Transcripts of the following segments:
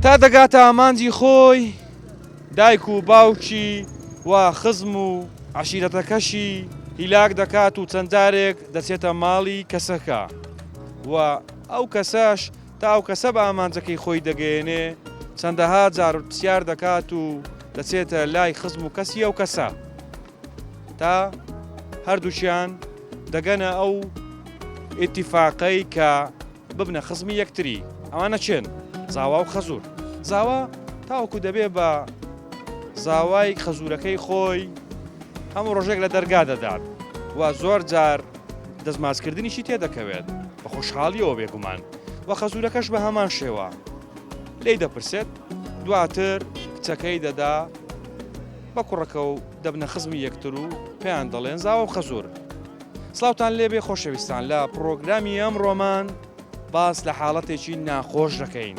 تا دەگاتە ئامانجی خۆی دایک و باوکی و خزم و عشیرەتەکەشی هیلاک دەکات و چەندارێک دەچێتە ماڵی کەسەکە و ئەو کەسەش تا ئەو کەسە بە ئامانجەکەی خۆی دەگەیەنێ، چەندەها جار پرسیار دەکات و دەچێتە لای خزم و کەسی ئەو کەسە، تا هەردووکیان دەگەنە ئەو ئیتیفاقەی کە ببنە خزمی یەکتری. ئەوانە کێن؟ زاوا و خەزوور. زاوا تاوەکو دەبێ بە زاوای خەزوورەکەی خۆی هەموو ڕۆژێک لە دەرگا دەدات و زۆر جار، دەستماچکردنیشی تێدەکەوێت بە خۆشحاڵیەوە بێگومان و خەزورەکەش بە هەمان شێوە لی دەپرسێت دواتر کچەکەی دەدا بە کوڕەکە و دەبنە خزمی یەکتر و پێیان دەڵێن زاوە و خەزور سلااوان لێبێ خۆشەویستان لە پرۆگرامی ئەم ڕۆمان باس لە حاڵەتێکی ناخۆش دەکەین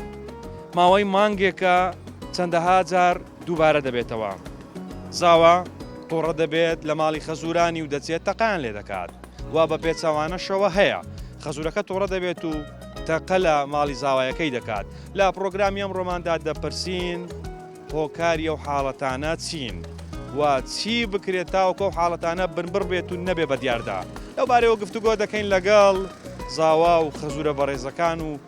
ماوەی مانگێکە چەندەها جار دووبارە دەبێتەوە زاوا توڕە دەبێت لە ماڵی خەزورانی و دەچێت تەقان لێ دەکات وا بە پێچوانەشەوە هەیە خەزورەکە توڕە دەبێت و تەقە لە ماڵی زاوایەکەی دەکات لە پرۆگرامی ئەم ڕۆماندا دەپرسین هۆکاری ئەو حاڵەتانە چین و چی بکرێت تاوەکە و حاڵەتانە بنبڕ بێت و نەبێ بە دیاردا لەو بارەوە گفتوگۆ دەکەین لەگەڵ زاوا و خەزورە بەڕێزەکان و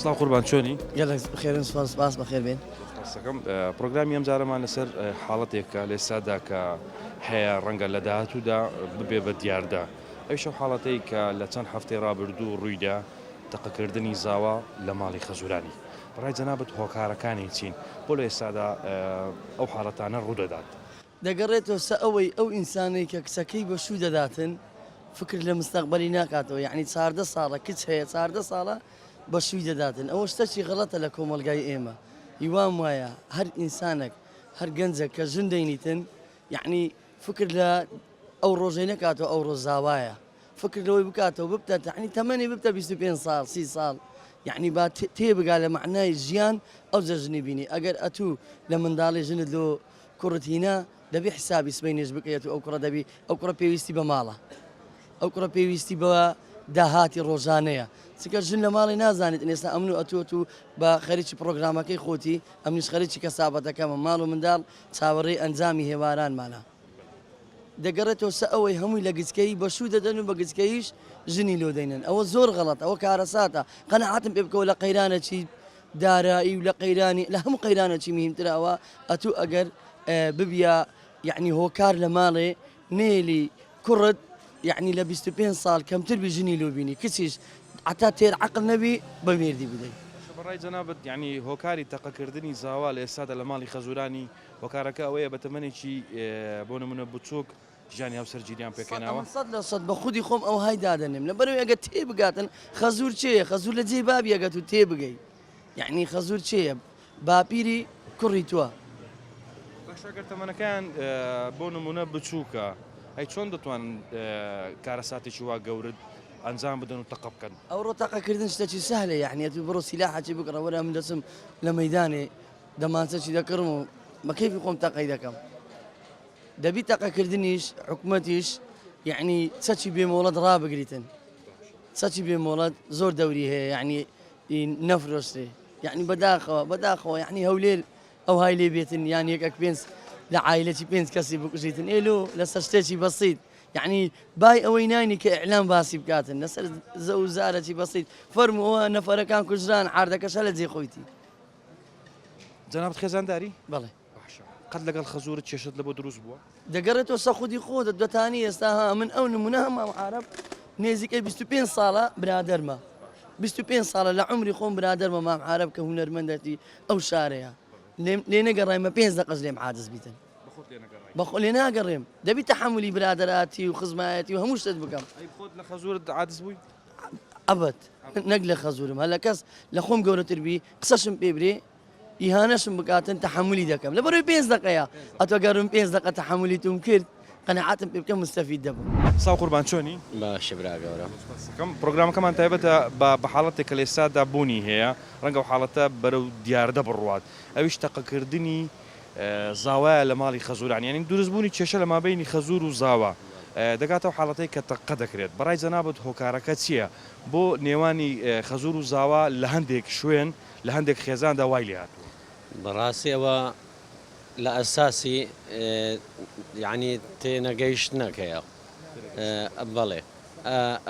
سڵاو قوربان چۆنی گەلێک بخێرن سپاس سپاس بەخێربێن قسەکەم پرۆگرامی ئەم جارەمان لەسەر حاڵەتێکە لێسادا کە هەیە ڕەنگە لە داهاتوودا ببێ بە دیاردا ئەوشە حاڵەتەی کە لە چەند هەفتەی ڕابردوو ڕوویدا تەقەکردنی زاوا لە ماڵی خەزورانی بەڕای جەنابەت هۆکارەکانی چین بۆ لە ئێستادا ئەو حاڵەتانە ڕوودەدات دەگەڕێتەوە سە ئەوەی ئەو ئینسانەی کە کچەکەی بە شوو دەداتن فکر لە مستەقبەلی ناکاتەوە یەعنی چاردە ساڵە کچ هەیە چاردە ساڵە بە شووی دەداتن ئەوە شتەکی غەڵەتە لە کۆمەڵگای ئێمە ی وام وایە هەر ئینسانەک هەر گەنجەک کە ژن دەینیتن یەعنی فکر لە ئەو ڕۆژەی نەکاتەوە ئەو ڕۆژ زاوایە فکر لەوەی بکاتەوە ببتە تەعنی تەمەنی ببتە بیست و پێنج ساڵ سی ساڵ یەعنی با تێ بگا لە مەعنای ژیان ئەوجە ژنی بینی ئەگەر ئەتوو لە منداڵی ژنت لۆ کوڕت هینا دەبی حسابی سبەینێش بکەیت و ئەو کوڕە دەبی ئەو کوڕە پێویستی بە ماڵە ئەو کوڕە پێویستی بە داهاتی ڕۆژانەیە چکە ژن لە ماڵی نازانیت ئێستا ئەمن و ئەتوت و بە خەریکی پرۆگرامەکەی خۆتی ئەمنیش خەریکی کەسابەتەکەمە ماڵ و منداڵ چاوەڕێی ئەنجامی هێوارانمانە دەگەڕێتەوە سە ئەوەی هەمووی لە گچکەی بەشوو دەدەن و بە گچکەیش ژنی لۆ دەینن ئەوە زۆر غەڵەت ئەوە کارەساتە قەنەعاتم پێ بکەوە لە قەیرانە چی دارایی و لە قەیرانی لە هەموو قەیرانە چی مهیمترە ئەوە ئەتوو ئەگەر ببیا یەعنی هۆکار لە ماڵێ نێلی کوڕت یەعنی لە بیست و پێنج ساڵ کەمتر بی ژنی لۆ بینی کچیش عەتا تێر عەقڵ نەبی بە مێردی بدەی. باشە بەڕای جەنابت یەعنی هۆکاری تەقەکردنی زاوا لە ئێستادا لە ماڵی خەزورانی هۆکارەکە ئەوەیە بە تەمەنێکی بۆ نموونە بچووک، ژانی هاوسەر جیلیان پێکهێناوە. سەدئەمن سەد لە سەد بە خودی خۆم ئەوهای دادەنێم لەبەرئەوەی ئەگەر تێبگاتن خەزور چێیە خەزور لە جێی بابی ئەگەر تو تێبگەی یەعنی خەزور چێیە باپیری کوڕی توە. باشە گەر تەمەنەکەیان بۆ نمونە بچووکە ئەی چۆن دەتوان کارەساتێکی وا گەورت ئەنجام بدەن و تەقە بکەن ئەوڕۆ تەقەکردن شتەکی سەهلە یعنیەت و بڕۆ سیلاحەکی بکڕە وەرە من دەچم لە مەدانێ دەمانچەکی دەکڕم و بەکەیفی خۆم تەقەی دەکەم. دەبی تەقەکردنیش حکومەتیش یەعنی چەکی بێ مۆڵەت ڕابگریتن چەکی بێ مۆڵەت زۆر دەوری هەیە یعنی نەفرۆشتێ یعنی بەداخەوە بەداخەوە یعنی هەولێر ئەو های لێ بێتن یان یەکەک پێنج لە عیلەی پێنج کەسی بکوژیتن ئێلو لەسەر شتێکی بەسییت یعنی بای ئەوەی نانی کە ئەلام باسی بکاتن لەسەر زە و زارەی بەسییت فەرمەوە نەفەرەکان کوژران عردەکەشە لە جێ خۆیتی جناب خێزانداری بڵێ وەحشە. قەت لەگەڵ خەزورت کێشەت لەبۆ دروست بووە؟ دەگەڕێتەوە سە خودی خۆتت بەتانی ئێستا ها من ئەو نمونە هەم مام عارەب نێزیکەی بیست و پێنج ساڵە برادەرمە بیست و پێنج ساڵە لە عومری خۆم برادەرمە مام عارەب کە هونەرمەندەتی ئەو شارەیە لێم لێ نەگەڕای مە پێنج دەقەش لێم عادز بیتن بەخۆت لێ نەگەڕای بەخۆ لێ ناگەڕێم دەبی تەحملی برادەراتی و خزمایەتی و هەموو شتت بکەم ئەی خۆت لە خەزورت عادز بووی؟ ئەبەت نەک لە خەزورم هە لە کەس لە خۆم گەورەتر بی قسەشم پێ برێ ئیهانەشم بکاتن تەحەمولی دەکەم لە بەرەوی پێنج دەقەیە ئەتۆ گەرم پێنج دەقە تەحەمولی توم کرد قەنەعاتم پێ بکە مستەفید دەبم. ساو قوربان چۆنی؟ باشە برا گەورە. پڕۆگرامەکەمان تایبەتە بە بە حاڵەتێک کە لە ئێستادا بوونی هەیە، ڕەنگە ئەو حاڵەتە بەرەو دیاردە بڕوات ئەویش تەقەکردنی زاوایە لە ماڵی خەزوران یانی دروستبوونی کێشە لە مابەینی خەزور و زاوا دەگاتە ئەو حاڵەتەی کە تەقە دەکرێت بەڕای جەنابت هۆکارەکە چییە بۆ نێوانی خەزور و زاوا لە هەندێک شوێن لە هەندێک خێزاندا وای لێهاتووە. بەڕاستی ئەوە لە ئەساسی یەعنی تێنەگەیشتنەکەیە بەڵێ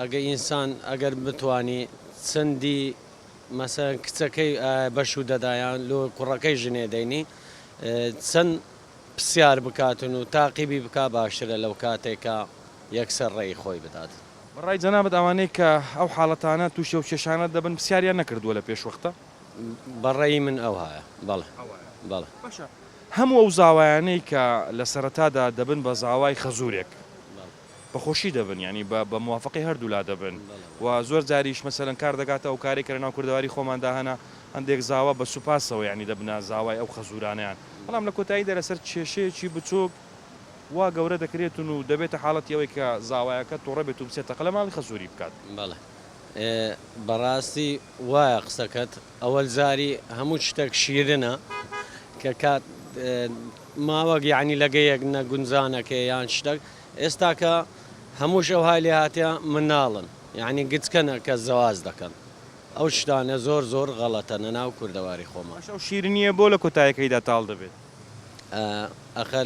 ئەگەر ئینسان ئەگەر بتوانی چەندی مەسەن کچەکەی بەشوو دەدایان لۆ کوڕەکەی ژنێ دەینی چەند پسیار بکاتن و تاقیبی بک باشترە لەو کاتێکە یەکسەر ڕێی خۆی بدات. بە ڕای جەنابت ئەوانەی کە ئەو حاڵەتانە تووشی ئەو کێشانە دەبن پرسیاریان نەکردووە لە پێشوەختە؟ بە ڕەئی من ئەوهایە بەڵێ بەڵێ. باشە هەموو ئەو زاوایانەی کە لە سەرەتادا دەبن بە زاوای خەزوورێک بە خۆشی دەبن یانی بە بە موافەقەی هەردوو لا دەبن و زۆر جاریش مەسەلەن کار دەکاتە ئەو کارەی کە لە ناو کوردەواری خۆماندا هەنە هەندێک زاوا بە سووپاسەوە یانی دەبنە زاوای ئەو خەزوورانەیان بەڵام لە کۆتاییدا لە سەر کێشەیەکی بچووک وا گەورە دەکرێتن و دەبێتە حاڵەتی ئەوەی کە زاوایەکە تۆڕە بێت و بچێت تەقە لە ماڵی خەزووری بکات. بەڵێ بەڕاستی وایە قسەکەت ئەوەل زاری هەموو شتەک شیرنە کە کات ماوەک یەعنی لەگەیەک نە گونجانەکێ یان شتەک ئێستاکە هەمووش ئەوهای لێ هاتیە مناڵن یەعنی گچکەنە کە زەواج دەکەن ئەو شتانە زۆر زۆر غەڵەتە نە ناو کوردەواری خۆمان. ئەش ئەو شیرنیە بۆ لە کۆتایەکەیدا تاڵ دەبێت. ئاخە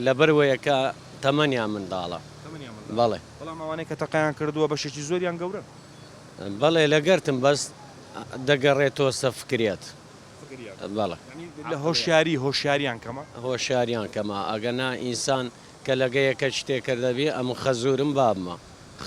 لەبەروەیە کە تەمەنیان منداڵە. تەمەنیان منداڵە. بەڵێ. بەڵام ئەوانەی کە تەقەیان کردووە بەشێکی زۆریان گەورەن. بەڵێ لەگەرتم بەس دەگەڕێتۆسە فکریات. فکریات. بەڵێ. یانی لە هۆشیاری هۆشیاریان کەمە؟ هۆشیاریان کەمە ئەگەنا ئینسان کە لەگەیەکە شتێ کردەبی ئەمن خەزورم بابمە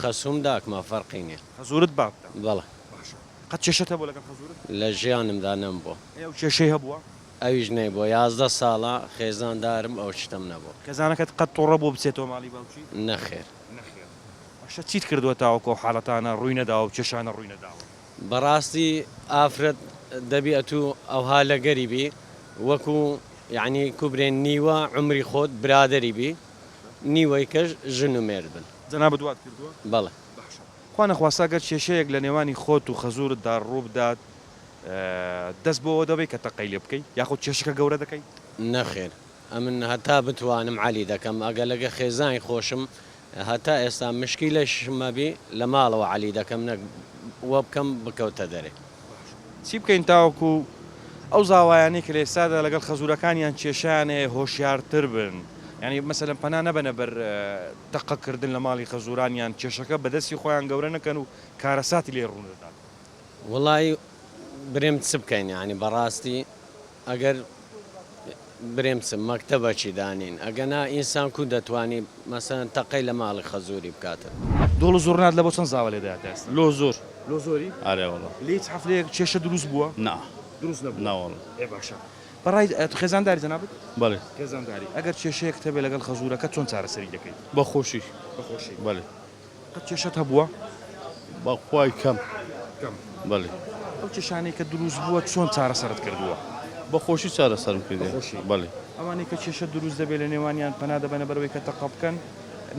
خەسووم داکمە فەرقی نیە. خەزورت بابتە. بەڵێ. باشە. قەت کێشەت هەبووە لەگەڵ خەزورت؟ لە ژیانمدا نەمبووە. ئەی ئەو کێشەی هەبووە؟ ئەویش نەی بۆ یازدە ساڵە خێزان دارم ئەو شتەم نەبۆ. کەزانەکەت قەت تۆڕە بوە بچێتەوە ماڵی باوکی؟ نەخێر. نەخێر باشە چیت کردوە تاوەکو ئەو حالەتانە ڕوی نەداوە و کێشانە ڕوی نەداوە؟ بەڕاستی ئافرەت دەبی ئەتو ئەوها لەگەری بی وەکو یەعنی کوبرێن نیوە عومری خۆت برادەری بی نیوەی کەش ژن و مێرد بن. جەنابت وات کردوە؟ بەڵێ. باشە خوا نەخواستە گەر کێشەیەک لەنێوانی خۆت و خەزورت دا ڕوبدات، دەست بۆوە دەبەی کە تەقەی لێ بکەی یاخود کێشەکە گەورە دەکەی؟ نەخێر ئەمن هەتا بتوانم عەلی دەکەم ئەگەر لەگە خێزانی خۆشم هەتا ئێستا مشکیلەشمەبی لە ماڵەوە عەلی دەکەم نەک وەبکەم بکەوتە دەرێ. چی بکەین تاوەکو ئەو زاوایانەی کە لە ئێستادا لەگەڵ خەزورەکانیان کێشەیان هەیە هۆشیارتر بن یانی مەسەلەن پەنا نەبەنە بەر تەقە کردن لە ماڵی خەزوران یان کێشەکە بە دەستی خۆیان گەورە نەکەن و کارەساتی لێ ڕوونەدات وەڵایی برێم چ بکەین یانی بەڕاستی ئەگەر برێم چ مەکتەبە چی دانین ئەگەنا ئینسان کو دەتوانی مەسەن تەقەی لە ماڵی خەزوری بکاتن. دۆڵ زوڕنات لە بۆ چەند زاوە لێ دەات ئێستا. لۆ زۆر لۆ زۆری ئارێ وەڵا. لێ هیچ حەفلەیەک کێشە دروست بووە؟ نا دروست نەبووە نا وەڵا. ئێ باشە بەڕای ئەتو خێزانداری جەنابت؟ بەڵێ خێزانداری ئەگەر کێشەیەکت هەبێ لەگەڵ خەزورەکەت چۆن چارەسەری دەکەی؟ بە خۆشی بە خۆشی بەڵێ. قەت کێشەت هەبووە؟ بەخوای کەم کەم بەلی. ئەو کێشانەی کە دروست بووە چۆن چارەسەرت کردووە؟ بە خۆشی چارەسەرم کردیە بەخۆشی بەلی. ئەوانەی کە کێشە دروست دەبێت لە نێوانیان پەنا دەبەنە بەرەوەی کە تەقە بکەن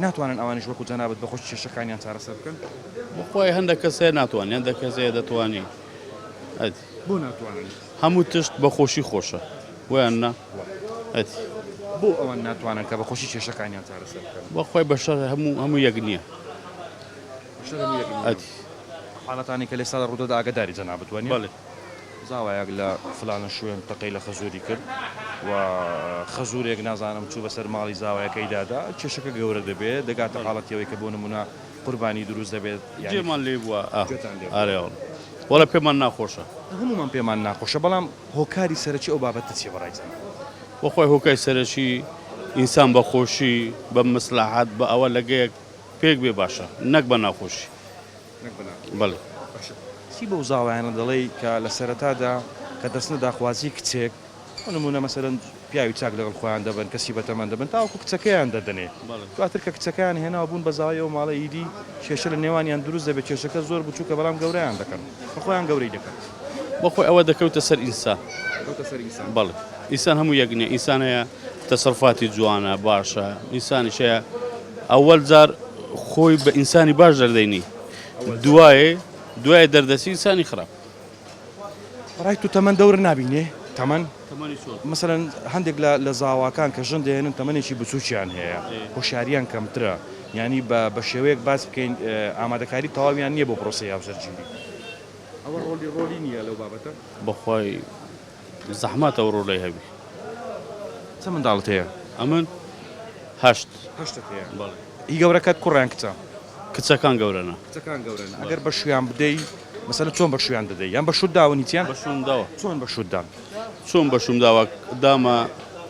ناتوانن ئەوانیش وەکو جەنابت بەخۆشی کێشەکانیان چارەسەر بکەن؟ بەخوای هەندەک کەس هەیە ناتوانن هەندەک کەس هەیە دەتوانی. بۆ ناتوانن هەموو تشت بە خۆشی خۆشە بۆیان نا ئەتی. بۆ ئەوان ناتوانن کە بە خۆشی کێشەکانیان چارەسەر بکەن؟ بە خۆی بە شەر هەموو هەموو یەک نییە ئەتی. حاڵەتانی کە لە ئێستادا ڕوودەدا ئاگەداری جەنابت وە نیە؟ بەڵێ. زاوایەک لە فلانە شوێن تەقەی لە خەزووری کرد و خەزوورێک نازانم چوو بەسەر ماڵی زاوایەکەیدا دا کێشەکە گەورە دەبێ دەگاتە حاڵەتی ئەوەی کە بۆ نموونە قوربانی دروست دەبێت یانی. جێمان لێ بووە ئاه. گوێتان لێ بوو. ئارێ وەڵا. وەڵا پێمان ناخۆشە. هەموومان پێمان ناخۆشە بەڵام هۆکاری سەرەکی ئەو بابەتە چیە بەڕای تان؟ بەخوای هۆکای سەرەکی ئینسان بە خۆشی بە مسلاحات بە ئەوە لەگەیەک پێک بێ باشە نەک بە ناخۆشی نەک بە ناخۆشی بەڵێ. باشە چی بەو زاوایانە دەڵێی کە لە سەرەتادا کە دەچنە داخوازی کچێک بۆ نموونە مەسەلەن پیاوی چاک لەگەڵ خۆیان دەبەن، کەسی بەتەمەن دەبەن تاوەکو کچەکەیان دەدەنێ، دواتر کە کچەکەیان هێناوە بوون بە زاوای ئەو ماڵە ئیدی کێشە لە نێوانیان دروست دەبێت، کێشەکە زۆر بچووکە بەڵام گەورەیان دەکەن کە خۆیان گەورەی دەکەن. بۆ خۆی ئەوە دەکەوتە سەر ئینسان. دەکەوتە سەر ئینسان. بەڵێ. ئینسان هەموو یەک نییە، ئینسان هەیە تەسەروفاتی جوانە، باشە، ئینسانیش هەیە ئەوەل جار خۆی بە ئینسانی باش دەردەینی دوایێ دوایێ دەردەچی ئینسانی خراپ. بەڕای تو تەمەن دەور نابینێ؟ تەمەن؟ تەمەنی چۆن؟ مەسەلەن هەندێک لە لە زاواکان کە ژن دەهێنن تەمەنێکی بچووکیان هەیە، هۆشیارییان کەمترە، یانی بە بە شێوەیەک باس بکەین ئامادەکاری تەواویان نییە بۆ پرۆسەی هاوسەرگیری. ئەوە ڕۆلی ڕۆلی نییە لەو بابەتە؟ بەخوای. زەحمەتە و ڕۆلەی هەبی. چەند منداڵت هەیە؟ ئەمن هەشت. هەشتت هەیە؟ بەڵێ. هی گەورەکەت کوڕە یان کچە؟ کچەکان گەورەنە. کچەکان گەورەن. ئەگەر بەشوویان بدەی، مەسەلەن چۆن بەشوویان دەدەی؟ یان بە شووت داون هیچیان؟ بەشووم داوە. چۆن بەشووت دان؟ چۆن بەشووم داوە؟ دامە.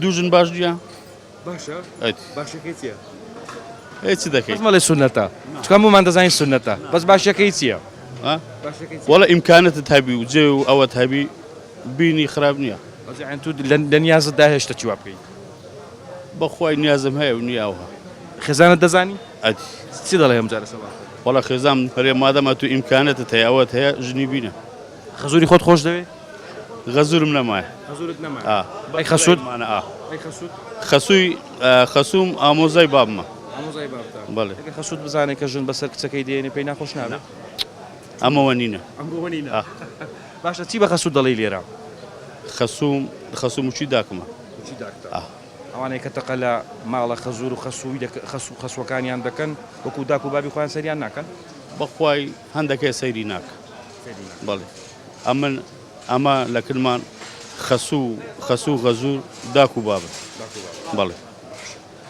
دوو ژن باش نییە؟ باشە؟ باشەکەی چییە؟ ئەی چ دەکەیت؟ بەس مەڵێ سوننەتە چکە هەموومان دەزانین سوننەتە بەس باشەکەی چییە؟ وەڵا ئیمکانەتت هەبی و جێ و ئەوەت هەبی بینی خراپ نییە تو لە نیازت دا هێشتە چی وا بکەیت؟ بەخوای نیازم هەیە و نیاوە خێزانت دەزانی؟ ئەدی چی دەڵێ ئەمجارە سەبا؟ وەڵا خێزام هەرێ مادەما تو ئیمکانەتت هەیە ئەوەت هەیە ژنی بینە خەزوری خۆت خۆش دەوێ؟ غەزورم نەمایە. غەزورت نەمایە؟ ئا. ئەی خەسوت؟ مانە ئا. ئەی خەسوت؟ خەسوی خەسوم ئامۆزای بابمە. ئامۆزای بابتە؟ بەڵێ. ئەگەر خەسوت بزانێ کە ژن بەسەر کچەکەی دێنێ پێی ناخۆش نابێ؟ نا. ئەمە وەنینە. ئەمە وەنینە. ئا. باشە چی بە خەسوت دەڵێی لێرە؟ خەسوم خەسوم وشی داکمە. وشی داکتە. ئا. ئەوانەی کە تەقە لە ماڵە خەزور و خەسوی دەک خەسو خەسوەکانیان دەکەن وەکو داک و بابی خۆیان سەیریان ناکەن؟ بەخوای هەندەکێ سەیری ناکە. بەڵێ ئەمن ئەمە لە کرمان خەسو خەسو غەزور داک و بابن بەڵێ.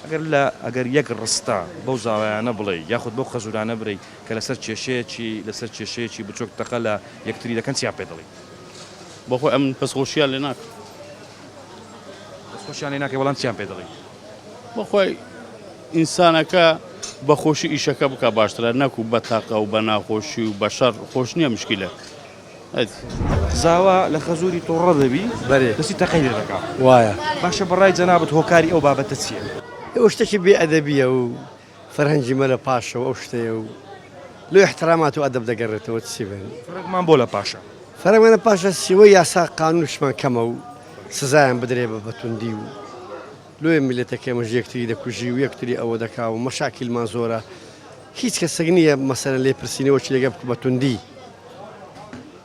ئەگەر لە ئەگەر یەک ڕستە بەو زاوایانە بڵێی یاخود بەو خەزورانە برێی کە لەسەر کێشەیەکی لەسەر کێشەیەکی بچۆک تەقە لە یەکتری دەکەن چیان پێ دەڵێی؟ بەخۆی ئەمن پەسخۆشیان لێ ناکەم. پەسخۆشیان لێ ناکەی بەڵام چیان پێ دەڵێی؟ بەخوای ئینسانەکە بە خۆشی ئیشەکە بکا باشترە نەکو بە تاقە و بە ناخۆشی و بە شەڕ خۆش نییە مشکیلە زاوا لە خەزووری تۆڕە دەبی بەێ دەسی تەقەی لێ دەکا وایە باشە بەڕای جەنابەت هۆکاری ئەو بابەتە چییە؟ ئەوە شتێکی بێ ئەدەبیە و فەرهەنگی مەلە پاشە و ئەو شتەیە و لۆ ئیحترامات و ئەدەب دەگەڕێتەوە چی بێن. فەرەگمان بۆ لە پاشە؟ فەرەگ مەلە پاشە سیوەی یاسا قانونشمان کەمە و سزایان بدرێ بە بەتوندی و لۆیە میلەتەک ئێمەش یەکتری دەکوژی و یەکتری ئەوە دەکا و مەشاکیلمان زۆرە هیچ کەسەک نییە مەسەلەن لێ پرسینەوە چی دەگا بەتوندی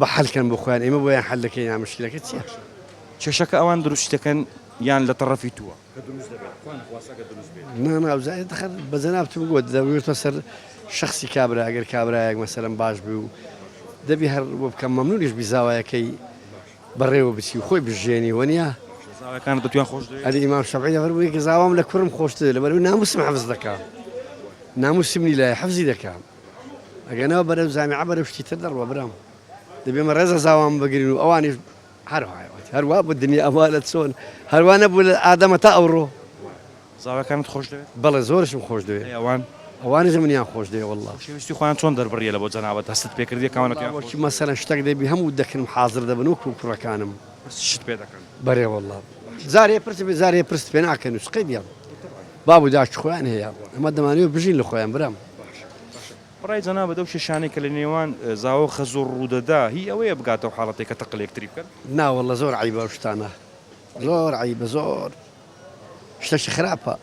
بە حەل کەن بۆ خۆیان ئێمە بۆیان حەل دەکەین نا مشکلەکە چیە؟ کێشەکە ئەوان دروست دەکەن یان لە تەڕەفی تووە ناناوزای دەخەر بە جەنابتم گووە دەوێتە سەر شخصی کابرا ئەگەر کابراایەک مەسەرم باش بوو و دەبی هەر بۆ بکەم مەمنونیش بیزاوایەکەی بەڕێوە بچی خۆی بژێنی وەنیە زاوەکان دەتوان خۆش ئەلی ئیمام شەفعی دەبەر بووی گەزاوام لە کوڕم خۆشتر لەبەر ناموسم حەفز دەکەم ناموسمنی لای حەفزی دەکەم ئەگەنەوە بەرەو جامیعە بەرەو شتی تر دەڕوا برام دەبێ مە ڕێزە زاوام بگرن و ئەوانیش هەروایەت هەروا بە دنیا ئەوا لە چۆن هەروە نەبوو لە ئادەمە تا ئەوڕۆ زاواکانت خۆش دەوێت بەڵێ زۆرشم خۆش دەوێت ئەوان ئەوانیش منیان خۆش دەوێ والله شویستی خۆیان چۆن دەربڕیە لە بۆ جەنابەت هەستت پێ کردی کاوانەکەیان وەکی مەسەرە شتەک دەبی هەموو دەکرم حاضر دەبن وەکو کوڕەکانم شت پێ دەکەن بەرێ والله زارێ پرس بێ زارێ پرس پێ ناکەن و سقی بیان بابو داش خۆیان هەیە ئەمە دەمانەوە بژین لە خۆیان برام برای جەنابت ئەو کێشانەی کە لە نێوان زاوا و خەزوور ڕوودەدا هی ئەوەیە بگاتەو حاڵەتێک کە تەقە لە یەکتری بکەن؟ نا واللە زۆر عەیبە ئەو شتانە زۆر عەیبە زۆر شتەکی خراپە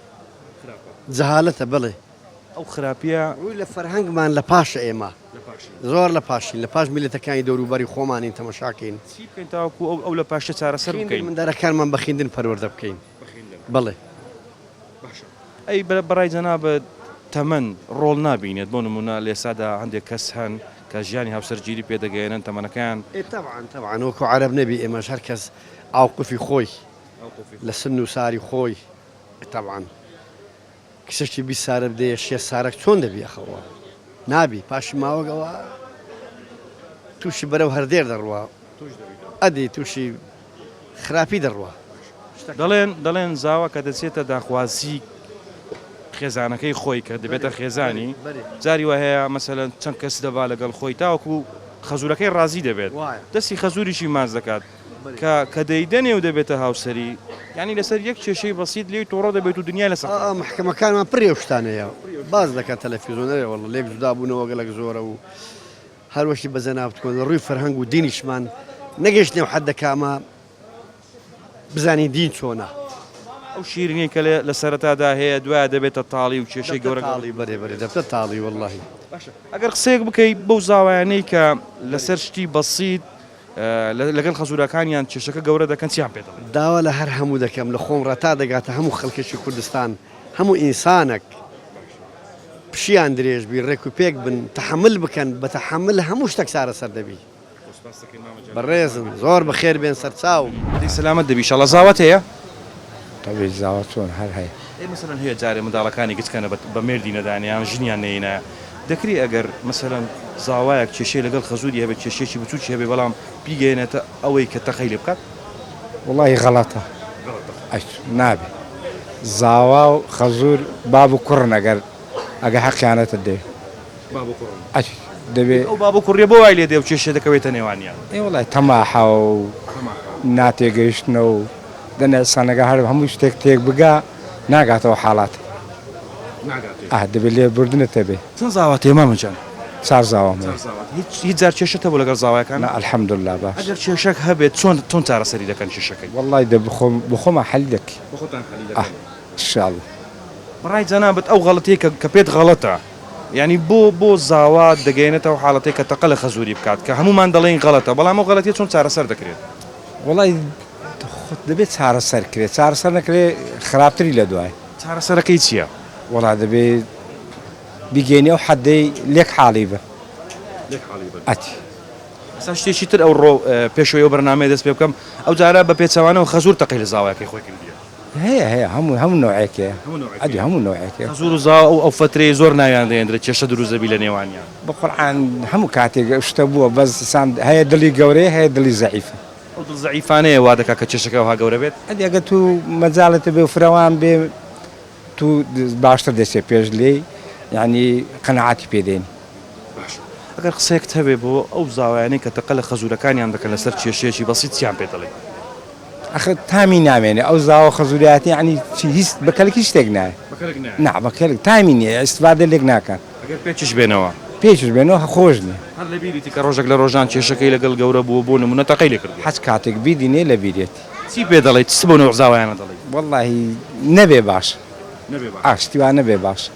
جەهالەتە بەڵێ. ئەو خراپیە. ڕووی لە فەرهەنگمان لە پاشە ئێمە زۆر لە پاشین لە پاش میلەتەکانی دەورو بەری خۆمانین تەمەشاکەین. چی بکەین تاوەکو ئەو لە پاشە چارەسەر بکەین؟ خویندن مندارەکانمان بە خویندن پەروەردە بکەین. بەخێندەران. ئەی بەڕای جەنابت تەمەن ڕۆڵ نابینێت؟ بۆ نموونە لە ئێستادا هەندێک کەس هەن کە ژیانی هاوسەرگیری پێ دەگەیەنن تەمەنەکەیان. ئێ تەبعەن تەبعەن وەکو عەرەب نەبی ئێمەش هەر کەس ئاوقوفی خۆی لە سن و ساری خۆی تەبعەن کچەکی بی سارە بدەیە شێ سارەک چۆن دەبی ئەخە ئەوە نابی پاشی ماوەگ ئەوە تووشی بەرەو هەردێر دەڕوا ئەدی تووشی خراپی دەڕوا دەڵێن دەڵێن زاوا کە دەچێتە داخوازی خێزانەکەی خۆی کە دەبێتە خێزانی جاری وە هەیە مەسەلەن چەند کەس دەبا لەگەڵ خۆی تاوەکو خەزورەکەی ڕازی دەبێت دەستی خەزوریشی ماز دەکات کە کە دەیدەنێ و دەبێتە هاوسەری، یانی لەسەر یەک کێشەی بەسیت لێی تۆڕە دەبێت و دنیا لەسەر خاک دەبێت. محکەمەکانمان پڕی ئەو شتانەیە باس دەکات تەلەفیزۆن ئەرێ واللە لێک جودا بوونەوە گەلەک زۆرە و هەر وەکی بە جەنابت بکەن لە ڕووی فەرهەنگ و دینیشمان نەگەیشتنە ئەو حەدە کە ئەمە بزانین دین چۆنە. ئەو شیرینەی کە لە سەرەتادا هەیە دوایە دەبێتە تاڵی و کێشەی گەورە گەورە دەبێت. بەرێ بەرێ دەبتە تاڵی وەڵاهی. باشە ئەگەر قسەیەک بکەی بەو زاوایانەی کە لەسەر شتی بەسیت، لەگەل خەزورەکانیان کێشەکە گەورە دەکەن چیان پێ دەڵێن؟ داوا لە هەر هەموو دەکەم لە خۆم ڕەتا دەگاتە هەموو خەلکەکی کوردستان هەموو ئینسانەک پشیان درێژ بی ڕێک و پێک بن تەحەمل بکەن بە تەحەمل هەموو شتەک چارەسەر دەبی بەڕێزم زۆر بەخێر بێن سەرچاو. هەی سەلامەت دەبی ئیشاڵا زاوت هەیە؟ تەوێی زاوا چۆن هەر هەیە. ئەی مەسەلەن هەیە جارێ منداڵەکانی گچکەنە بە بە مێردی نەدانێ یان ژنیان نەینایە دەکرێ ئەگەر مەسەلەن زاوایەک کێشەی لەگەڵ خەزووری هەبێ کێشەیەکی بچووکی هەبێ بەڵام بیگەیەنێتە ئەوەی کە تەقەی لێ بکات؟ وەڵاهی غەڵەتە ئەچ نابێ زاوا و خەزوور باب و کوڕن ئەگەر ئەگە حەقیانەتت دەوێ. باب و کوڕن ئەک دەبێ. ئەو باب و کوڕیە بۆ وای لێ دێ و کێشە دەکەوێتە نێوانیان؟ ئێ وەڵای تەماحە و ناتێگەیشتنە و دەنا ئسانەگا هەر هەموو شتێک تێک بگا ناگاتەوە حاڵات ناگاتێ ئاه دەبێ لێ بوردنت هەبێ. چەن زاوات هەیە مامە جان؟ چار زاوام هەیە. چار زاوات هیچ هیچ جار کێشەت هەبوو لەگەڵ زاوایەکان؟ نا الحمداللە باش. ئەگەر کێشەک هەبێت چۆن چۆن چارەسەری دەکەن کێشەکەی؟ وەڵای دە بخۆم بەخۆما حەلی دەکەی. بەخۆتان حەلی دەکەن. ئاه ان شاء اللە. بەڕای جەنابت ئەو غەڵەتیەی کە کە پێت غەڵەتە یانی بۆ بۆ زاوا دەگەیەنێتە ئەو حاڵەتەی کە تەقە لە خەزووری بکات کە هەموومان دەڵێین غەڵەتە بەڵام ئەو غەڵەتیە چۆن چارەسەر دەکرێت؟ وەڵای خۆت دەبێت چارەسەر کرێت چارەسەر نەکرێ خراپتری لە دوای. چارەسەرەکەی چییە؟ وەڵا دەبێ بیگەینی ئەو حەدەی لێک حاڵی بن. لێک حاڵی بن. ئەتی. ئەسا شتێکی تر ئەوڕۆ پێشەوەی ئەو بەرنامەیە دەست پێ بکەم ئەو جارە بە پێچەوانەوە خەزوور تەقەی لە زاوایەکەی خۆی کردیە. هەیە هەیە هەموو هەموو نەوعێک هەیە هەموو نەوعێک ئەدی هەموو نەوعێک هەیە خەزوور و زاو ئەو ئەو فەترەی زۆر ناویان دەهێندرێ کێشە دروست دەبی لە نێوانیان. بەقورعان هەموو کاتێک ئەو شتە بووە بەس سام هەیە دڵی گەورەیە هەیە دڵی زەعیف. ئەو دڵ زەعیفانەیە وا دەکا کە کێشەکە ئەوها گەورە بێت. ئەدی ئەگەر تو مەجالت هەبێ و فرەوان بێ تو باشتر دەچێ پێش لێی یانی قەناعەتی پێ دێنی. باشە ئەگەر قسەیەکت هەبێ بۆ ئەو زاوایانەی کە تەقە لە خەزوورەکانیان دەکەن لەسەر کێشەیەکی بەسیت چیان پێ دەڵێی؟ ئەخە تامی نامێنێ ئەو زاوە خەزوریاتە یەعنی چی هیچ بە کەلک هیچ شتێک نایە بە کەلک نایە نا بە کەلک تامی نیە ئیستفادە لێک ناکەن ئەگەر پێچش بێنەوە. پێچش بێنەوە هە خۆش نیە. هەر لە بیریتی کە ڕۆژێک لە ڕۆژان کێشەکەی لەگەڵ گەورە بووە بۆ نموونە تەقەی لێ کردووە؟ هەچ کاتێک بیدینێ لە بیرێتی. چی پێ دەڵێی چ بەو نەوع زاوایانە دەڵێی؟ وەڵاهی نەبێ باشە نەبێ باشە ئا شتی وا نەبێ باشە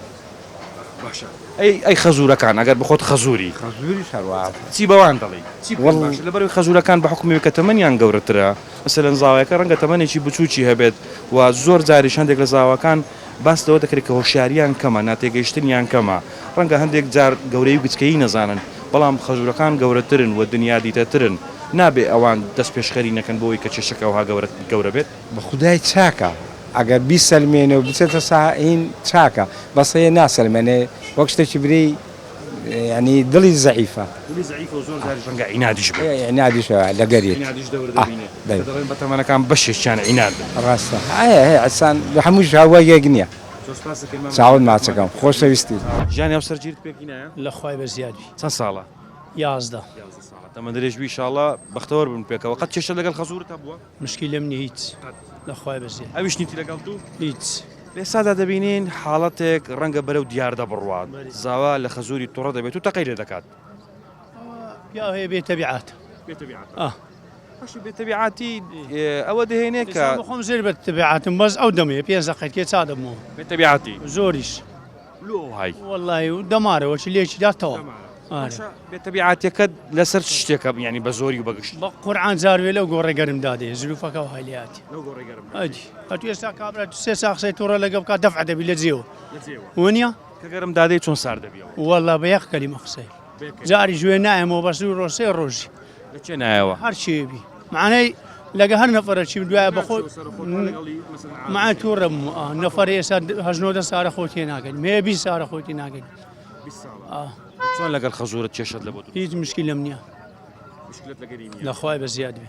باشە ئەی ئەی خەزورەکان ئەگەر بخۆت خەزوری خەزوریش هەروا چی بەوان دەڵی چی بکەن لەبەر خەزورەکان بە حکومی کە تەمەنیان گەورەترە مەسەلەن زاوایەکە ڕەنگە تەمەنێکی بچوکی هەبێت و زۆر جاریش هەندێک لە زاواکان باس لەوە دەکرێت کە هۆشیاریان کەمە ناتێگەیشتنیان کەمە ڕەنگە هەندێک جار گەورەی و گچکەیی نەزانن بەڵام خەزورەکان گەورەترن و دنیا دیتەترن نابێ ئەوان دەست پێشخەری نەکەن بۆی کە کێشەکە ئەوها گەورە گەورە بێت. بە خودای چاکە ئەگەر بیسەلمێنێ و بچێتە ساحین چاکە بەس هەیە ناسەلمێنێ وەک شتێکی برێی یعنی دڵی زەعیفە دڵی زەعیفە و زۆر جاریش ڕەنگە عینادیش بێت عینادیش لەگەر عینادیش دەور دەبینێ دەڵێن بە تەمەنەکان بەشێکیان عیناد بن ڕاستە هەیە هەیە ئەسان هەمووش هەوا یەک نییە زۆر سپاس دەکەین مامە چاوت ماچەکەم خۆشەویستی ژیانی هەمسەر جیرت پێک هینایە لە خوای بە زیاد بی چەند ساڵە یازدە یازدە ساڵە تەمەن درێژ بی ان شاء اللە بەختەوەر بن پێکەوە قەت کێشەت لەگەڵ خەزوورت هەبووە؟ مشکیلەم نیە هیچ لەخوای بەزێ ئەویش نیتی لەگەڵ دوو هیچ. لێسادا دەبینین حاڵەتێک ڕەنگە بەرەو دیاردە بڕوات زاوا لە خەزووری توڕە دەبێت و تەقەی لێ دەکات. پیاو هەیە بێ تەبیعات بێتەبیعاتی ئەوە دەهێنێت کە خۆم زێر بە تەبیعاتم بەس ئەو دەمێ پێ زەقەتێ چا دەبمەوە بێتەبیعاتی زۆریش. لۆ وای. وەڵای و دەمارەوە چ لێکی دا تەواو. باشە بێ تەبیعاتیەکەت لەسەر چ شتێکە یانی بە زۆری و بە گشت؟ بە قورعان جار وێ لەو گۆڕێ گەرم دا دێ زلوفەکە وەهای لێ هاتی. لەو گۆڕێ گەرم دا دێ. ئەدی ئەتوو ئێستا کابرا دوو سێ سا قسەی توڕە لەگە بکا دەفع دەبی لە جێوە. لە جێوە. وەنیە؟ کە گەرم دا دێ چۆن سارد دەبیەوە؟ وەڵا بە یەق کەلیمە قسەی. جاریش وێ نایەمەوە بەس دوو ڕۆژ سێ ڕۆژی لە چێ نایەوە هەرچێ بی معنەی لەگە هەر نەفرە چیم دوایە بەخۆ مع تووڕم نەفر ئێستا هەژنۆدە سارە خۆتی ناگەن مێ بی سارە خۆتی ناگەن چۆن لەگەڵ خەزورت کێشت لە بۆ هیچ مشکی لەم نییە لەخوای بە زیاد بێ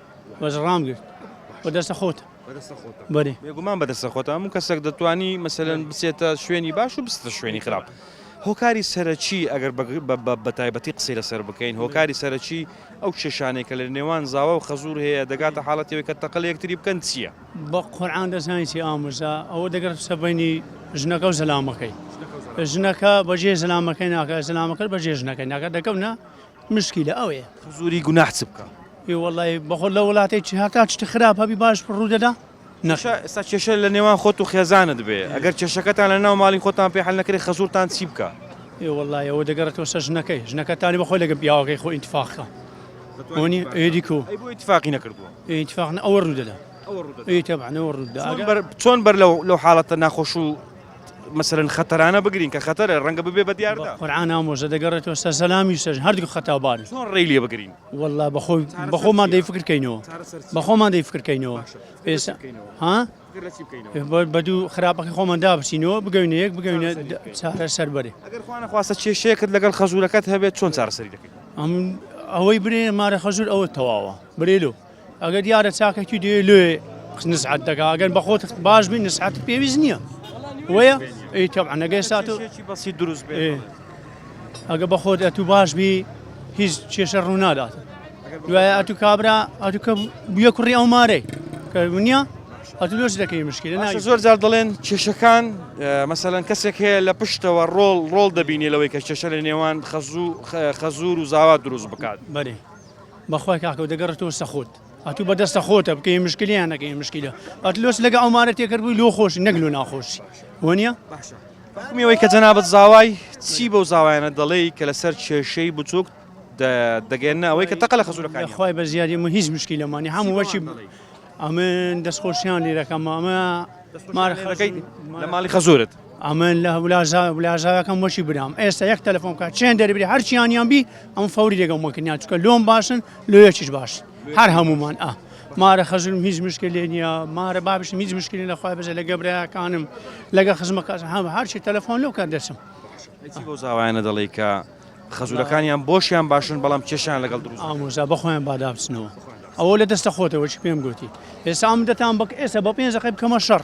بەس ڕام گرت بە دەستە خۆتە بەێ بێگومان بە دەستە خۆتە هەموو کەسێک دەتوانی مەسەن بچێتە شوێنی باش و بستە شوێنی خراپ. هۆکاری سەرەکی ئەگەر بە تایبەتی قسەی لەسەر بکەین هۆکاری سەرەکی ئەو کێشانێک کە لە نێوان زاوا و خەزور هەیە دەگاتە حاڵەتەوەی کە تەقل یەکتری بکەن چییە بە قۆران دەزانیتی ئاموزا ئەوە دەگەر سەبینی ژنەکە و زەلامەکەی ژنەکە بەجێ زەلامەکەی ناکە زەلامەکە بەجێ ژنەکەی ناکە دەکەونە مشکیلە ئەوەیە. حزوری گوناح چ بکا. ئی واللە ی بەخۆ لە وڵاتێ چی هەتا چ خراپ هەبی باش ڕوو دەدا نەخێر. کێشە ئێستا کێشە لە نێوان خۆت و خێزانت بێ ئەگەر کێشەکەتان لە ناو ماڵی خۆتان پێ حەل نەکرێ خەزورتان چی بکا. ئی واللە ی ئەوە دەگەڕێتەوە سەر ژنەکەی ژنەکەتانی بەخۆی لەگەڵ پیاوەکەی خۆ ئینتفاق کا ئەونی ئێدی کو. ئەی بۆ ئینتفاقی نەکردوە. ئی ئینتفاق ئەوە ڕوو دەدا ئەوە ڕوو دەدا ئێ تەبعەن ئەوە ڕوو دەدا ئەگەر. چۆن بەر لەو حاڵەتە ناخۆش و. مەسەلەن خەتەرانە بگرین کە خەتەرە ڕەنگە ببێ بە دیاردە قورعان ئامۆژە دەگەڕێتەوە سەر سەلامی سەر هەردوو خەتاو باری چۆن ڕێی لێ بگرین واللە بەخۆی بەخۆمان دەی فکرکەینەوە بەخۆمان دەی فکرکەینەوە پێسە ها بەدوو خراپەکە خۆمان دابچینەوە بگەینە یەک بگەینە چارە سەر بەرێ خواستە کێشەیەکرد لەگەڵ خەزورەکەت هەبێت چۆن چارەسەری دەکەین ئەوەی برێ مارە خەزور ئەوە تەواوە برێلو ئەگەر دیارە چاکەکی دێ لێ نزعەت دەگا ئەگەر بەخۆت باش بین نسعەت پێویست نییە وەیە ئەی تەبعە نەگەی سات و بەسی دروست بێ ئەگە بەخۆت ئەتو باش بی هیچ کێشە ڕوونادات دوایە ئەتو کابرا ئەتو کە بویە کوڕی ئەو مارەی کە نییە ئەتو لۆچ دەکەی مشکل ناشە زۆر جار دەڵێن کێشەکان مەسەەن کەسێک هەیە لە پشتەوە ڕۆڵ ڕۆڵ دەبینی لەوەی کە کێشە لە نێوان خەزوو خەزور و زاوا دروست بکات بەێ بەخوای کاکە دەگەڕێتەوە سەخۆت ئەتوو بەدەستە خۆتە بکەی مشکلیان نەکەی مشکلە ئەتلۆس لەگە ئەومارە تێکرد بووی لۆ خۆش نەک لۆ ناخۆش وەنیە میەوەی کە جەنابەت زاوای چی بەو زاوایانە دەڵێی کە لەسەر کێشەی بچووک دەگەێنە ئەوەی کە تەقە لە خەزورەکانی خخوای بە زیادی من هیچ مشکی لەمانی هەموو وەچی ئەمن دەستخۆشیان لێرەکەم ئەمە مارەکەی لە ماڵی خەزورت ئەمن لە ولاژا ولاژاکەم وەشی برام ئێستا یەک تەلەفۆن بکە چێن دەربری هەرچیانیان بی ئەم فەوری دەگەم وەکنیان چکە لۆم باشن لۆ یەکیش باش هەر هەمومان ئە مارە خەزلم هیچ مشکل لێ نییە مارە بابش هیچ مشکلی لە خخوای بزە لە گەبرایەکانم لەگە خزمەکە هەم هەرچی تەلەفۆن لەو کار دەچم بۆ زاوایانە دەڵی کە خەزورەکانیان بۆشیان باشن بەڵام کێشیان لەگەڵ دروست ئامۆزا بەخۆیان بادابچنەوە ئەوە لە دەستە خۆتەوە چی پێم گوتی ئێسام دەتان بک ئێستا بە پێنجەکە بکەمە شەڕ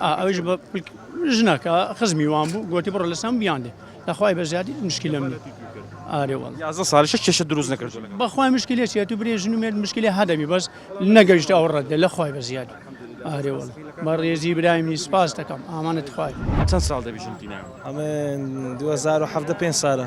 ئەویش بە ژنەکە خزمی وان بوو گوتی بڕۆ لە سام بیان دێ لەخوای بە زیادی مشکلە من ئارێ وڵ یازدە ساڵیشە کێشە دروست نەکرد بەخوای مشکلێ چێت و برێژن و مێرد مشکلی هەدەبی بەس نەگەیشت ئەو ڕەدە لە خوای بە زیادی ئارێ وڵ بە ڕێزی برایمی سپاس دەکەم ئامانت خوای چەند ساڵ دەبیژن تینا ئەمە 2010 پێ ساە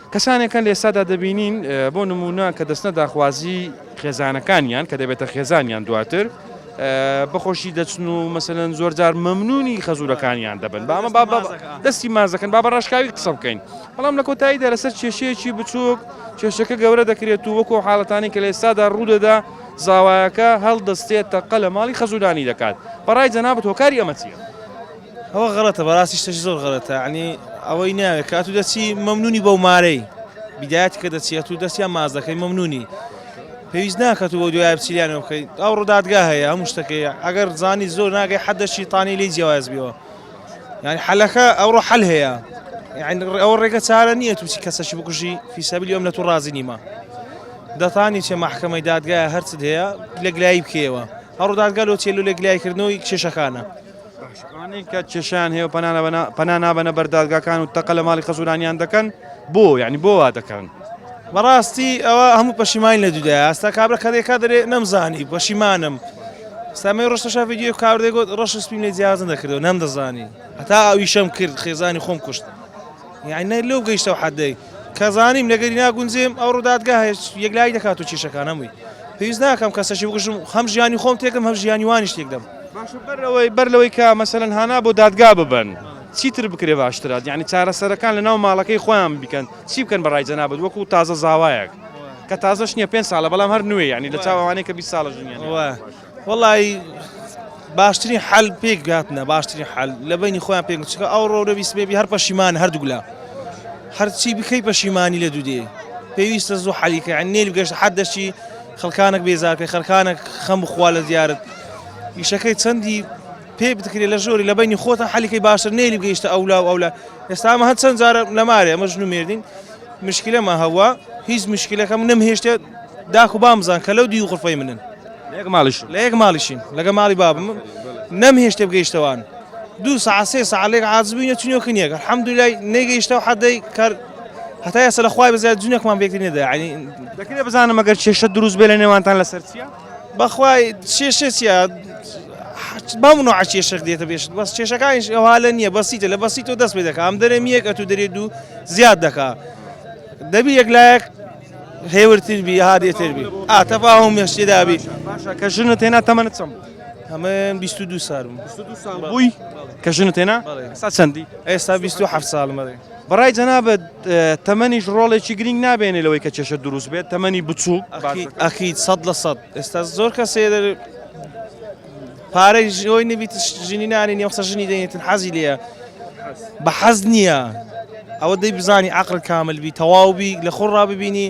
کەسانێکن لە ئێستادا دەبینین بۆ نموونە کە دەچنە داخوازی خێزانەکانیان کە دەبێتە خێزانیان دواتر بە خۆشی دەچن و مەسەن زۆر جار مەمنونی خەزورەکانیان دەبن بامە بابە دەستی مازەکەن بابە ڕاشکاوی قسە بکەین بەڵام لە کۆتاییدا لەسەر کێشەیەکی بچووک کێشەکە گەورە دەکرێت و وەکو حاڵەتانی کە لە ئێستادا ڕوودەدا زاوایەکە هەڵدەستێت تەقە لە ماڵی خەزورانی دەکات بەڕای جەنابەت هۆکاری ئەمە چیە؟ ئەوە غەڵەتە بەڕاستی شتەکی زۆر غەڵەتە یعنی ئەوەی ناوێ کە ئەتوو دەچی مەمنونی بەو مارەی بدایەت کە دەچی ئەتوو دەستیان ماز دەکەی مەمنونی پێویست ناکات و بۆ دوای بچیلیانەوە بکەی ئەو ڕوودادگا هەیە هەموو شتەکەی ئەگەر زانی زۆر ناگەی حەدەشی تانی لی جیاواز بیەوە یعنی حەلەکە ئەوڕۆ حەل هەیە ئەوە ڕێگە چارە نییە تووسی کەسەشی بکوژی فیسەبلی ئەم لە تو ڕازی نیمە دەتانی چێ مححکەمەی دادگایە هەرچت هەیە لەگلایی بکەوە هەڕوودادگەلۆ چێلو لەگلایکردنەوەی کێشەکانە ئەوانەی کە کێشەیان هەیە و پەنا نابەنە بەر دادگاکان و تەقە لە ماڵی خەزورانیان دەکەن بۆ یعنی بۆ وا دەکەن بەڕاستی ئەوە هەموو پەشیمانی لە دودا ئاستا کابرا کەێکا دەێ نەمزانی پەشیمانم سامەی ڕشتە شافی دیێ کاردەگوت ڕەش سپین لە جیازن دەکردەوە نەم دەزانی هەتا ئەویشەم کرد خێزانی خۆم کوشت یعنی لۆ گەیشتە ئەو حەدەی کە زانیم لەگەری ناگونجێم ئەو ڕوودادگا هێچ یەکلایی دەکات و کێشەکان هەمووی پێویست ناکەم کەسەشی بگوشم هەم ژیانی خۆم تێکم هەم ژیانی وانیش تێک دەم باشە بەر لەوەی بەر لەوەی کە مەسەلەن هانا بۆ دادگا ببەن چیتر بکرێ باشترات یعنی چارەسەرەکان لە ناو ماڵەکەی خۆیان بکەن چی بکەن بەڕای جەنابەت وەکو تازە زاوایەک کە تازەش نییە پێنج ساڵە بەڵام هەر نوێ یعنی لە چاو ئەوانەی کە بیست ساڵە ژنیان وایە وەڵایی باشترین حەل پێک هاتنە باشترین حەل لە بینی خۆیان پێک چکە ئەو ڕۆرە بیسبێبی هەر پەشیمان هەردوولا هەرچی بکەی پەشیمانی لە دوودێ پێویستە زوو حەلیکە نێل گەشت حەد دەشی خەڵکانێک بێزارکە خەرکانێک خەم بخوا لە دیارت ئیشەکەی چەندی پێ بتکرێت لە ژۆری لە بینی خۆتە حەلیکەی باشتر نێلی گەیشتە ئەولا و ئەولا ئێستامە هەند چەند جارە لە مارێ ئەمە ژن و مێردین مشکلەمە هەوا هیچ مشکلەکەم نەم هێشتێت داخ و بامزان کە لەو دی و قفەی منن لە یەک ماڵیش لە یەک ماڵیشین لەگە ماڵی بابم نەم هێشتێ بگەیشتەوان دوو سا سێ سا لێک عازبووینە چنیۆ کنیەکە حەمدولای نەگەیشتەوە حەدەی کار هەتا ئێستا لە خوای بەزیاد جونێکمان بێکتی نێدا ینی دەکرێت بزانم ئەگەر کێشە دروست بێ لە نێوانتان لەسەر چیە بەخوای کێشە چیە بەم نوع کێشەک دێتە بێش بەس کێشەکانیش ئەوها لە نییە بەسیتە لە بەسیت و دەست پێ دەکە ئەم دەرێ میەک ئەتو دەرێ دوو زیاد دەکا دەبی یەک لایەک هێور تر بی هادێ تر بی ئا تەفاهوم مێش تێدا بی باشە کە ژنت هێنا تەمەنت چەند بوو تەمەن 22 سال بووم 22 ساڵ بووی کە ژنت هێنا بەڵێ. ئێستا چەندی ئێستا 27 سالمە دەی بەڕای جەنابەت اه، تەمەنیش ڕۆڵێکی گرنگ نابێنێ لەوەی کە کێشە دروست بێت تەمەنی بچووک باشە. ئەخیت سەد لە سەد ئێستا زۆر کەسێ دەر پارەی ژنۆی نەبیت ژنی نانی نیە قسە ژنی دەێتن حەزی لێە بە حەز نییە ئەوە دەی بزانی عقل کامل بی تەواوبی لە خۆ ڕاببینی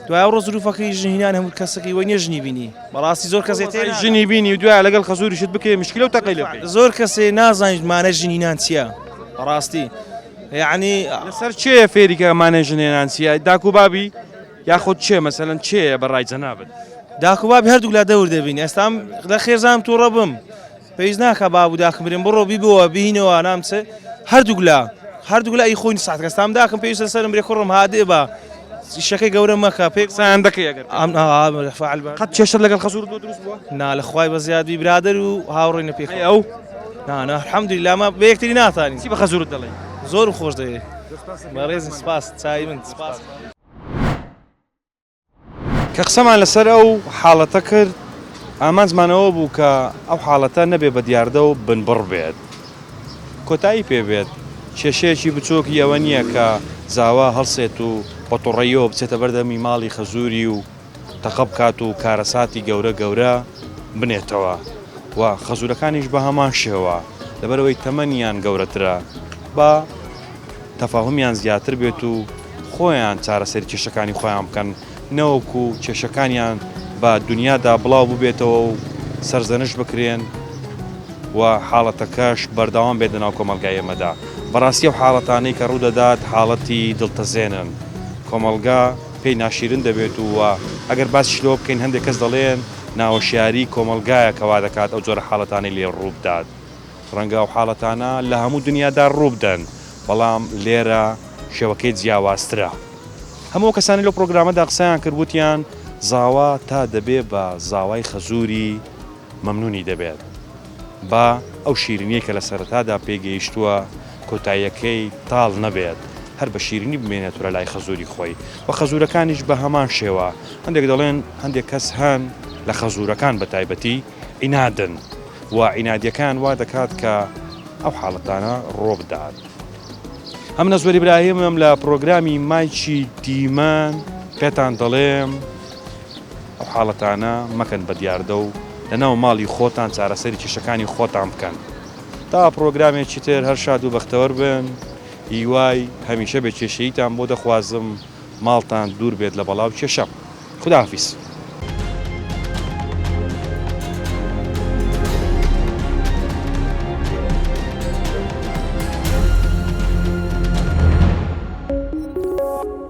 دوای ڕۆ زروفەکەی ژنینان هەموو کەسەکەی وە نێژنی بینی بەڕاستی زۆر کەسێت ژنی بینی و دوای لەگەڵ خەزوریشت بکەی مشکل و تەقی لە زۆر کەسێ نازانیت مانە ژنینان چییە بەڕاستی یعنی لەسەر چێە فێریکە مانە ژنێنان چیە داکو بابی یاخود چێ مەسەلەن چێیە بە ڕای جەنابت؟ داک و بابی هەردووک لا دەور دەبین ئێستام لە خێزانم تووڕە بم پێویست ناکە باب و داکم برێن بڕۆ بیبەوە بینەوە نام چ هەردووک لا هەردووک لا ئی خۆین ساعت کەستام داکم پێویستە سەرم برێ کوڕم هادێ بە شەکەی گەورە مەکە پێک سایان دەکەی ئەگەر ئەم ئا فعل بە قەت کێشە لەگەڵ خەسوور بۆ دروست بووە نا لە خوای بە زیادی برادر و هاوڕێنە پێ ئەی ئەو نا نا الحمد لله ما بە یەکتری ناتانی چی بە خەسوورت دەڵێی زۆرم خۆش دەوێ بەڕێزم سپاس چای من سپاس کە قسەمان لەسەر ئەو حاڵەتە کرد، ئامانجمان ئەوە بوو کە ئەو حاڵەتە نەبێ بە دیاردە و بنبڕ بێت، کۆتایی پێ بێت، کێشەیەکی بچۆکی ئەوە نییە کە زاوا هەڵسێت و بە تۆڕەییەوە بچێتە بەردەمی ماڵی خەزووری و، تەقە بکات و کارەساتی گەورە گەورە بنێتەوە و خەزورەکانیش بە هەمان شێوە لەبەرەوەی تەمەنیان گەورەترە با تەفاهمیان زیاتر بێت و خۆیان چارەسەری کێشەکانی خۆیان بکەن نەوەکو کێشەکانیان بە دنیادا بڵاو ببێتەوە و سەرزەنش بکرێن و حاڵەتەکەش بەردەوام بێت لەناو کۆمەلگای ئێمەدا بەڕاستی و حاڵەتانەی کە ڕوودەدات حاڵەتی دڵتەزێنن کۆمەلگا پێی ناشیرن دەبێت و ئەگەر باسیش لەوە بکەین هەندێک کەس دەڵێن ناهۆشیاریی کۆمەڵگایە کە وا دەکات ئەو جۆرە حاڵەتانەی لێ ڕوو بدات. ڕەنگە ئەو حاڵەتانە لە هەموو دنیادا ڕوو بدەن، بەڵام لێرە شێوەکەی جیاوازترە. هەموو ئەو کەسانەی لەو پڕۆگرامەدا قسەیان کرد وتیان زاوا تا دەبێ بە زاوای خەزووری مەمنونی دەبێت با ئەو شیرینیەی کە لە سەرەتادا پێی گەیشتووە کۆتاییەکەی تاڵ نەبێت هەر بە شیرینی بمێنێتورە لای خەزوری خۆی و خەزورەکانیش بە هەمان شێوە هەندێک دەڵێن هەندێک کەس هەن لە خەزورەکان بە تایبەتی ئینادن و ئینادیەکان وا دەکات کە ئەو حاڵەتانە ڕۆبدات ئەم نەزوەری براهیمم لە پرۆگرامی مایکی دیمەن پێتان دەڵێم ئەو حاڵەتانە مەکەن بە دیاردە و لەناو ماڵی خۆتان چارەسەری کێشەکانی خۆتان بکەن تا پڕۆگرامێکی تر هەر شاد و بەختەوەر بن هیوای هەمیشە بێ کێشەییتان بۆ دەخوازم ماڵتان دوور بێت لە بەڵا و کێشە خوداحافیز.